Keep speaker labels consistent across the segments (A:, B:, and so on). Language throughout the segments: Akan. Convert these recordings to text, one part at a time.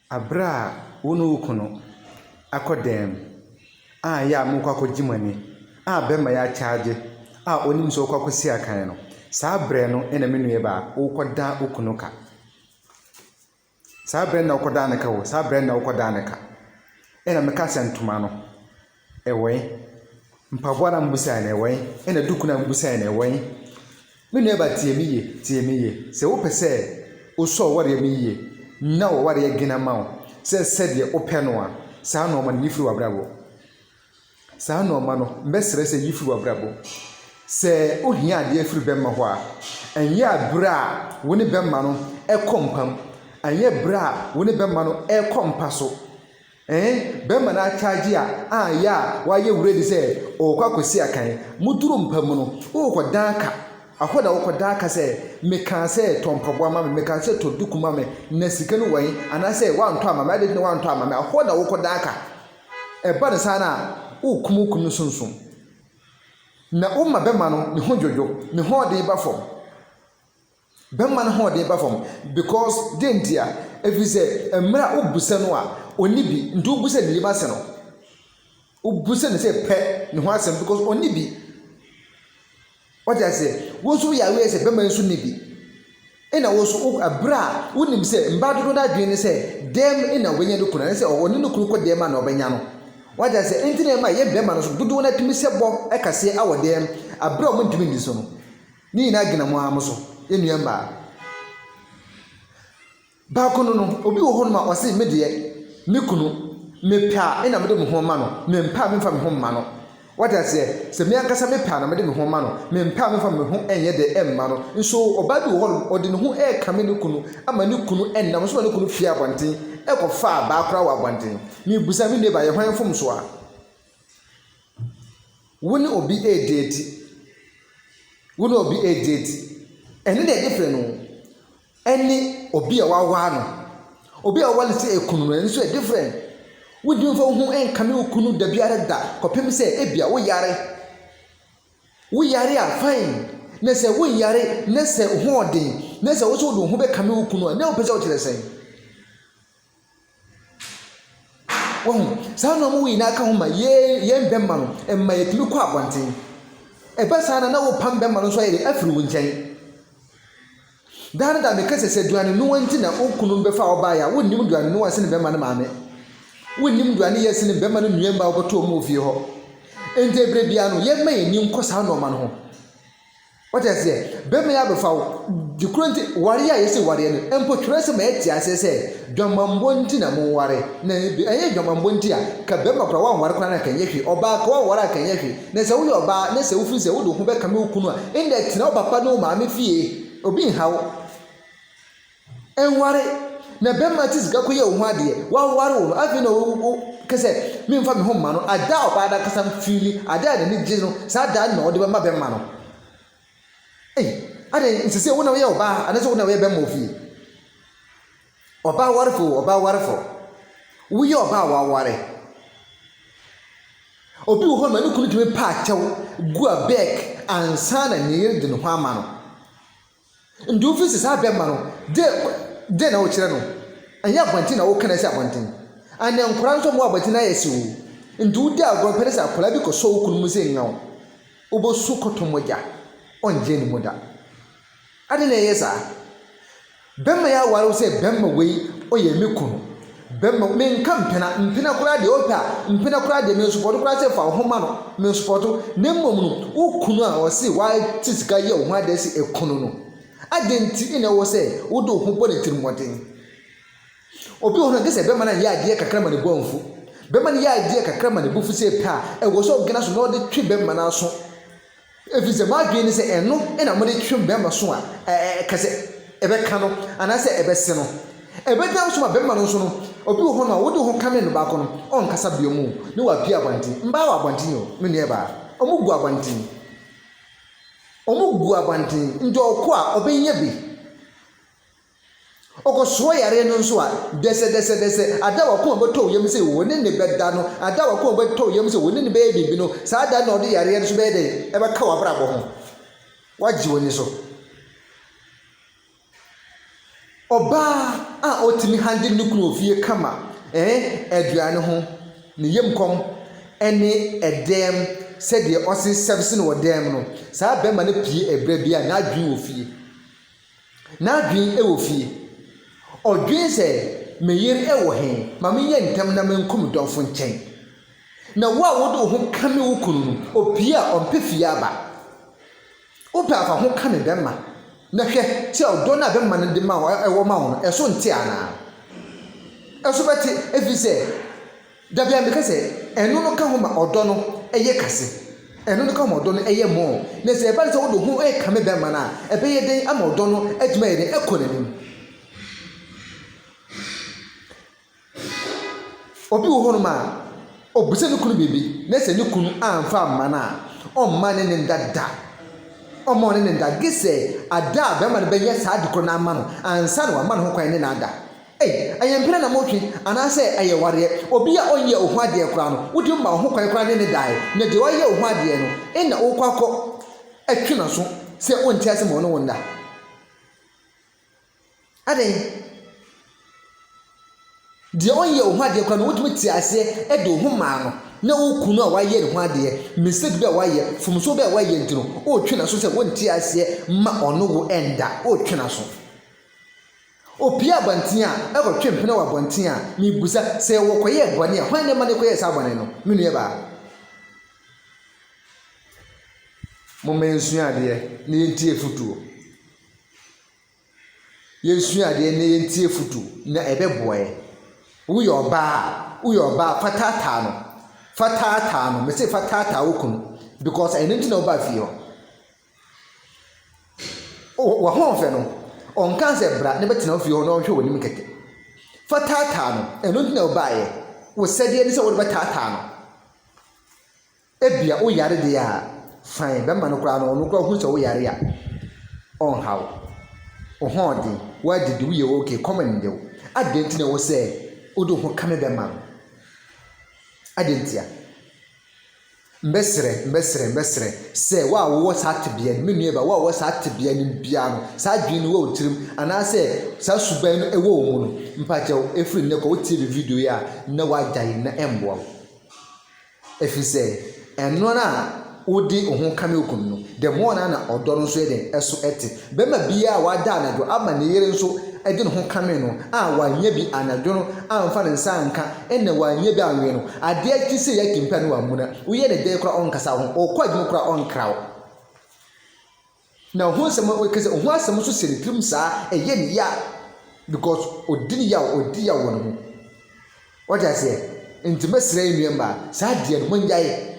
A: Bere a wo ne wo kunu akɔ dan mu a ɛyɛ a morekɔ akɔgye mo ani a bɛrima yi akyagye a ɔnim sɛ ɔrekɔ akɔsi akan no, saa berɛ no na me nuabaa worekɔda wo kunu ka. Saa berɛ no na wokɔdaa no ka o, saa berɛ no na wokɔdaa no ka. Ɛna meka sɛ ntoma no. Ɛwɛn? Mpaboa na mobisae no, ɛwɛn? Ɛna duku na mobisae no, ɛwɛn? Me nuabaa, tie me yie, tie me yie, sɛ wopɛ sɛ wosɔ w'awareɛ mu yie na w'awareɛ gen ama wo sɛ sɛdeɛ wopɛ no a, saa nnoɔma no yi firi w'abrabɔ. Saa nnoɔma no, mɛsrɛ sɛ yi firi w'abrabɔ. Sɛ wohia adeɛ firi bɛmma hɔ a, ɛnyɛ berɛ a wo ne bɛmma no kɔ mpam, ɛnyɛ berɛ a wo ne bɛmma no rekɔ mpa so, Eeh bɛma no akyagye a aah yɛ a wayɛ wura bi sɛ ɔɔkɔ akɔsi akan moduru mpa mu no wookɔ dan aka ahɔ na wokɔ dan aka sɛ mekaa sɛ tɔ mpaboa ma me mekaa sɛ tɔ duku ma me na sika no wai anaasɛ woantɔ ama me adɛn nti na woantɔ ama me ahɔ na wokɔ dan aka ɛba no saa no a wokum wo kunu sunsum na woma bɛma no ne ho dwodwo ne hɔɔden ba fam. Bɛma no hoɔden ba fam because dɛn ntia? Ɛfiri sɛ mmerɛ wo bu sɛ no a ɔnni bi nti wo bu sɛ ne yam ase no wo bu sɛ ne sɛ pɛ ne ho asɛm because ɔnni bi wɔte aseɛ wo nso yɛ aware sɛ bɛma nso nni bi ɛna wo nso ɛberɛ a wonim sɛ mbaa dodo no adwene ne sɛ dɛm ɛna ɔbɛnya no kunu ne sɛ ɔne no kunu kɔ dɛm a na ɔbɛnya no wɔte aseɛ ɛnti na ɛma yɛ bɛma no so dodoɔ no atumi sɛ bɔ ɛkaseɛ awɔ dɛm aberɛ a wɔntumi nni so no Ne nyinaa gyina mo ara mo so, yɛn nua mmaa. Baako no no, obi wɔ hɔnom a ɔse me deɛ, me kunu, mepɛ a ɛna mede me ho ma no, mempɛ a memfa me ho mma no. Wate aseɛ? Sɛ me ankasa mepɛ a na mede me ho ma no, mempɛ a memfa me ho nyɛ dɛ mma no. Nso ɔbaa bi wɔ hɔnom, ɔde ne ho rekame ne kunu ama ne kunu nam so ma ne kunu fii abɔnten kɔfaa baa koraa wɔ abɔnten. Mebisa, me nua baa, yɛ hwan mfomsoɔ a? Wo ne obi redaati. Wo ne obi redaati. Ɛno na ɛyɛ fɛ no. Ɛne obi a waware no. Obi a waware no sɛ kunu no, ɛno nso ɛyɛ different. Wontumi mfa wo ho nkame wo kunu da biara da kɔpem sɛ ebia woyare. Woyare a, fine. Na sɛ wonyare na sɛ wo ho yɛ den na sɛ wo nso wode wo ho bɛkame wo kunu a, na wopɛ sɛ wokyerɛ sɛn? Wahu? Saa nnoɔma wei nyinaa ka ho ma yɛn yɛn bɛrima no, ɛma yɛtumi kɔ abɔnten. Ɛba saa na na wopam bɛrima no nso ayɛ dɛ afiri wo nkyɛn. Daa no da meka sɛ sɛ aduane noa nti na wo kunu bɛfa wo baeɛ a, wonnim aduane noa sene bɛrima no maame. Wonnim aduane yɛ sene bɛrima no nnuam ba a wɔbɛto wɔn wɔ fie hɔ. Enti ɛberɛ biara no, yɛmma yɛn ani nkɔ saa nnoɔma no ho. Wate aseɛ? Bɛrima yi abɛfa wo. De koro nti, wareɛ a yɛse wareɛ no, mpo twerɛsɛm ayɛ te aseɛ sɛ, dwamanbɔ nti na monware. Na ɛnyɛ dwamanbɔ nti a, ka bɛrima koraa wanware koraa no anka ɛnyɛ hwee. Ɔbaa koraa wanware a anka ɛnyɛ hwee. Na sɛ woyɛ ɔbaa na sɛ wofiri sɛ wode wo ho bɛkame wo kunu a, ɛnde tena wo papa ne wo maame fie. Obi nha wo. Ɛnware, na bɛmma te sika kɔyɛ wo ho adeɛ, waware wo no afei na wo wo kɛ sɛ memfa me ho mma no, ada a ɔbaa no ankasa mfeeli, ada a n'ani gye no, saa da no na ɔde bɛma bɛmma no. Ei, adɛn, nsɛ sɛ wo na woyɛ ɔbaa anaasɛ wo na woyɛ bɛmma wɔ fie? Ɔbaa warefo o, ɔbaa warefo, woyɛ ɔbaa a waware. Obi wɔ hɔ ma ne kunu tumi paa kyɛw gu a bɛɛk ansa na ne yere de ne ho ama no. Nti wofi se saa bɛmma no de den na wokyerɛ no ɛnyɛ abɔnten na woka na ɛsi abɔnten and nkwadaa nso ɔmo abɔnten na yɛsi wo nti wodi agorɔ mpɛ ne sɛ akwadaa bi kɔsɔ wo kunu mu sɛ nyaw wobɛsu kɔtɔ mogya ɔngye ne mu da aden na ɛyɛ saa bɛmma yi aware wo sɛ bɛmma wei ɔyɛ me kunu Bɛma me nka mpena, mpena koraa deɛ, ɔpɛ a, mpena koraa deɛ, mensupɔɔto koraa sɛ fa wo ho ma no, mensupɔɔto, na mmom no, wo kunu a ɔse wate sika yɛ wo ho adeɛ sɛ ɛku no no, adɛn nti na ɛwɔ sɛ wode wo ho bɔ ne tirimmɔden? Obi wɔ hɔ no a, gye sɛ bɛma no yɛ adeɛ kakra ma ne bo amfu, bɛma no yɛ adeɛ kakra ma ne bo fu sɛ pɛ a, ɛwɔ sɛ ɔgyina so na ɔde twe bɛma no aso. Efisɛ moadwene ne sɛ ɛno na mode twe bɛrima so a ɛka sɛ ɛbɛka no anaasɛ ɛbɛse no. Ɛbɛdan so ma bɛrima no nso no, obi wɔ hɔnom a wode wo ho kame no baako no, ɔnkasa biom o, ne wapue abɔnten. Mmaa wɔ abɔnten o, me nuabaa. Wɔgu abɔnten. Wɔgu abɔnten, nti ɔkɔ a, ɔbɛnya bi. Ɔkɔsoɔ yareɛ no nso a, dɛsɛdɛsɛdɛsɛ, ada a w'akoma bɛtɔ wo yam sɛ wo ne no bɛda no, ada a w'akoma bɛtɔ wo yam sɛ wo ne no bɛyɛ biribi no, saa da no na ɔde yareɛ no nso bɛyɛ dɛn? Ɛbɛka w'abrabɔ ho. Woagye w'ani so. Ɔbaa a ɔtumi handle ne kunu wɔ fie kama, ɛɛ, aduane ho, ne yam kɔm, ɛne ɛdɛm, sɛdeɛ ɔse service no wɔ dɛm no, saa bɛrima no pue ɛberɛ biara, n'adwene wɔ fie. N'adwene wɔ fie. Odwen sɛ, 'Me yere wɔ he? Ma menyɛ ntɛm na menkɔ me dɔfo nkyɛn. Na wo a wode wo ho kame wo kunu no, opue a, ɔmpɛ fie aba. Wopɛ a fa ho ka ne bɛmma, na hwɛ sɛ ɔdɔ no a bɛmma no de ma wo, wɔ ma wo no, ɛso nte anaa? Ɛso bɛte, efisɛ. Da biara meka sɛ, ɛno no ka ho ma ɔdɔ no yɛ kase. Ɛno no ka ho ma ɔdɔ no yɛ mmɔɔ. Na sɛ ɛba no sɛ wode wo ho rekame bɛmma no a, ɛbɛyɛ dɛn ama ɔdɔ no atumi ayɛ dɛn akɔ n'anim? Obi wɔ hɔnom a, obisa ne kunu biribi, na sɛ ne kunu amfa amma no a, ɔmma ne ne nda da. Ɔmma ɔne ne nda, gye sɛ ada a bɛrima no bɛyɛ saa ade korɔ no ama no ansa na wama ne ho kwan ne no ada. Ei, ɛyɛ mpena na motwe, anaasɛ ɛyɛ wareɛ? Obi a ɔnyɛɛ wo ho adeɛ koraa no, wode womaa wo ho kwan koraa ne no daeɛ, na deɛ wayɛ wo ho adeɛ no, ɛnna worekɔ akɔ twe n'aso sɛ wonte ase ma ɔne wo nna? Adɛn? Deɛ ɔnyɛɛ wo ho adeɛ koraa no, wotumi tee aseɛ de wo ho maa no, na woreku no a wayɛ ne ho adeɛ, mistake bi a wayɛ, mfomsoɔ bi a wayɛ nti no, woretwe n'aso sɛ wonte aseɛ ma ɔne wo nna, woretwe n'aso. Opiaa abɔnten a ɛkɔtwe mpena wɔ abɔnten a, mibisa, sɛ wɔkɔyɛɛ bɔne a, hwan na ɛma no kɔyɛɛ saa bɔne no? Me nuabaa. Momma yɛnsua adeɛ na yɛntie afotuo. Yɛnsua adeɛ na yɛntie afotuo na ɛbɛboa yɛn. Woyɛ ɔbaa a, woyɛ ɔbaa fa taataa no. Fa taataa no. Mese fa taataa wo kunu because ɛno nti na wobaa fie hɔ. Oh, w'ahoɔfɛ no, ɔnkaa sɛ bra na bɛtena wo fie hɔ na ɔnhwɛ w'anim kɛkɛ. Fa taataa no, ɛno nti na wobaeɛ. Wo sɛdeɛ ne sɛ wode bɛtaataa no. Ebia wo yare deɛ a, fine, bɛrima no koraa no, ɔno koraa ɔhu sɛ wo yare a, ɔnha wo. Wo hoɔden, woadidi, woyɛ okay, kɔm nde wo. Adɛn nti na ɛwɔ sɛ wode wo ho kame bɛrima no? Adɛn ntia? Mɛsrɛ, mɛsrɛ, mɛsrɛ sɛ wo a wowɔ saa tebea no, me nua Eva, wo a wowɔ saa tebea no mu biara no, saa adwene no wɔ wo tirim anaasɛ saa suban no wɔ wo mu no, mpakyɛw, ɛfiri nnɛ kɔ, wotie me video yi a, na woagyae na ɛmmoa wo. Ɛfiri sɛ, ɛno ara a wode wo ho kame wo kunu no, the more no ara na ɔdɔ no nso yɛ dɛn, ɛso te. Barima bi a wada anadwo ama ne yere nso de ne ho kame no a wannya bi anadwo no amfa ne nsa anka na wannya bi anwe no, ade a ɛte sei yɛ atim paa na wammuna. Woyɛ no dɛn koraa ɔnkasa wo ho, ɔkɔ adwuma koraa ɔnkra wo. Na ho nsɛm a ɔka sɛ ho asɛm nso hyɛ ne tirim saa ɛyɛ ne ya because ɔdi ne yaw, ɔdi yaw wɔ ne ho. Wate aseɛ? Nti mɛsrɛ yɛn nua mmaa, saa adeɛ no monnyae.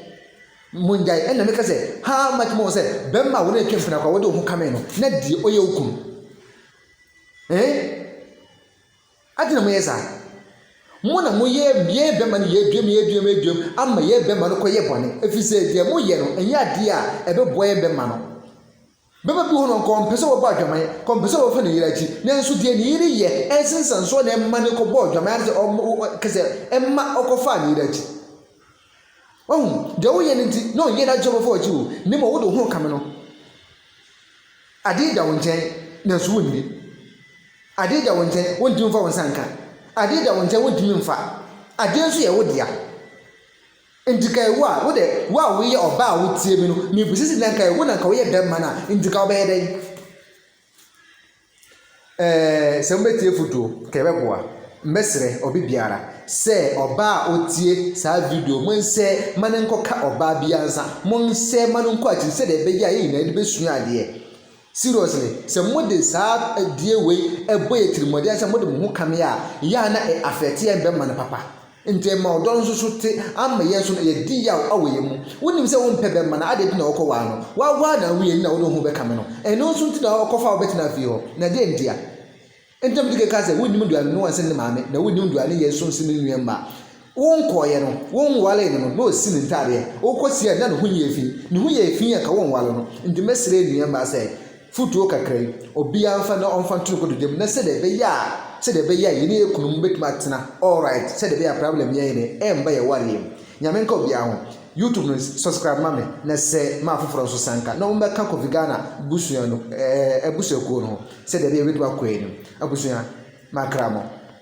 A: Mongyae, ɛnna meka sɛ, Ha ara mɛka ma wɔn sɛ, Bɛmma a wɔn a atwa mpena kɔ a wɔde wɔn ho kamee no, na deɛ ɔyɛ wo kunu. Ee, adɛn na moyɛ saa? Mo na moyɛ yɛn bɛmma no yɛaduam yɛaduam yɛaduam ama yɛn bɛmma no kɔyɛ bɔne, ɛfiri sɛ deɛ moyɛ no nyɛ adeɛ a ɛbɛboa yɛn bɛmma no. Bɛma bi wɔ hɔ no, anka ɔmpɛ sɛ wɔbɔ adwaman, anka ɔmpɛ sɛ wɔfa ne yere akyi, nanso deɛ ne yere yɛ nse nsɛnsoɔ na ɛma no kɔbɔɔ adwaman, anaasɛ ɔma, ɔ, ɔ, kasɛ ɛma ɔkɔfaa ne yere akyi. Wahu, deɛ woyɛ no nti, na ɔnyɛ n'adwene sɛ ɔbɛfa w'akyi o, na mmom wode wo ho rekame no. Adeɛ da wo nkyɛn, nanso wonni. Adeɛ da wo nkyɛn, wontumi mfa wo nsa nka. Adeɛ da wo nkyɛn, wontumi mfa. Adeɛ nso yɛ wo dea. Ntsi nka ewu a, wo dɛ, wo a woyɛ ɔbaa a wotsie me no, mibisa dze, na nka ewu na nka woyɛ dɛm man a, ntsi nka wɔbɛyɛ dɛn? Ɛɛ, sɛ mobɛtsie efutuo, nka yɛbɛboa. Mɛserɛ obi biara sɛ ɔbaa a otsie saa video yi, monsɛ ma no nkɔka ɔbaa biara nsa, monsɛ ma no nkɔ akyiri sɛdeɛ ɛbɛyɛ a yɛn nyinaa yɛde bɛsua adeɛ. Seriously, sɛ mo de saa adie wei bɔ yɛ tirimɔden sɛ mo de mo ho ka me a, yɛ a na ɛ affect yɛn bɛ mma no papa. Nti ɛma ɔdɔ no nso so te ama yɛn nso no yɛ di yaw wɔ yɛn mu. Wo nim sɛ wo mpɛ bɛ mma no adɛn nti na ɔkɔ waa no? Wa waa no awie nti na wo de wo ho bɛ ka me no? Ɛno nso nti na ɔkɔ fa wo bɛ tena fie hɔ? Na dɛn ntia? Ntɛm di kan ka sɛ, Wonnim aduane no nsen ne maame, na wonnim aduane yɛ nso nsen ne nua mma. Wonkɔeɛ no, wonwaree no no, na ɔsi ne ntadeɛ. Wokɔsiee a, na ne ho nyɛɛ fi. Ne ho yɛɛ fi a, anka wonwaree no. Enti mɛsrɛ nua mma sɛ, fotuo kakra yi, obiara mfa na ɔmfa nto ne kotodwe mu, na sɛdeɛ ɛbɛyɛ a, sɛdeɛ ɛbɛyɛ a yɛne yɛn kununom bɛtumi atena all right, sɛdeɛ ɛbɛyɛ a problem yɛn yɛn remma yɛn wareɛ mu. Nyame nka obiara ho. YouTube no subscribe ma me na sɛ ma afoforɔ nso sanka na wɔmmɛka Kofi Ghana busua no ɛɛ abusuakuo no ho sɛdeɛ ɛbɛyɛ yɛbɛtumi akɔ anim. Abusua, makra mo.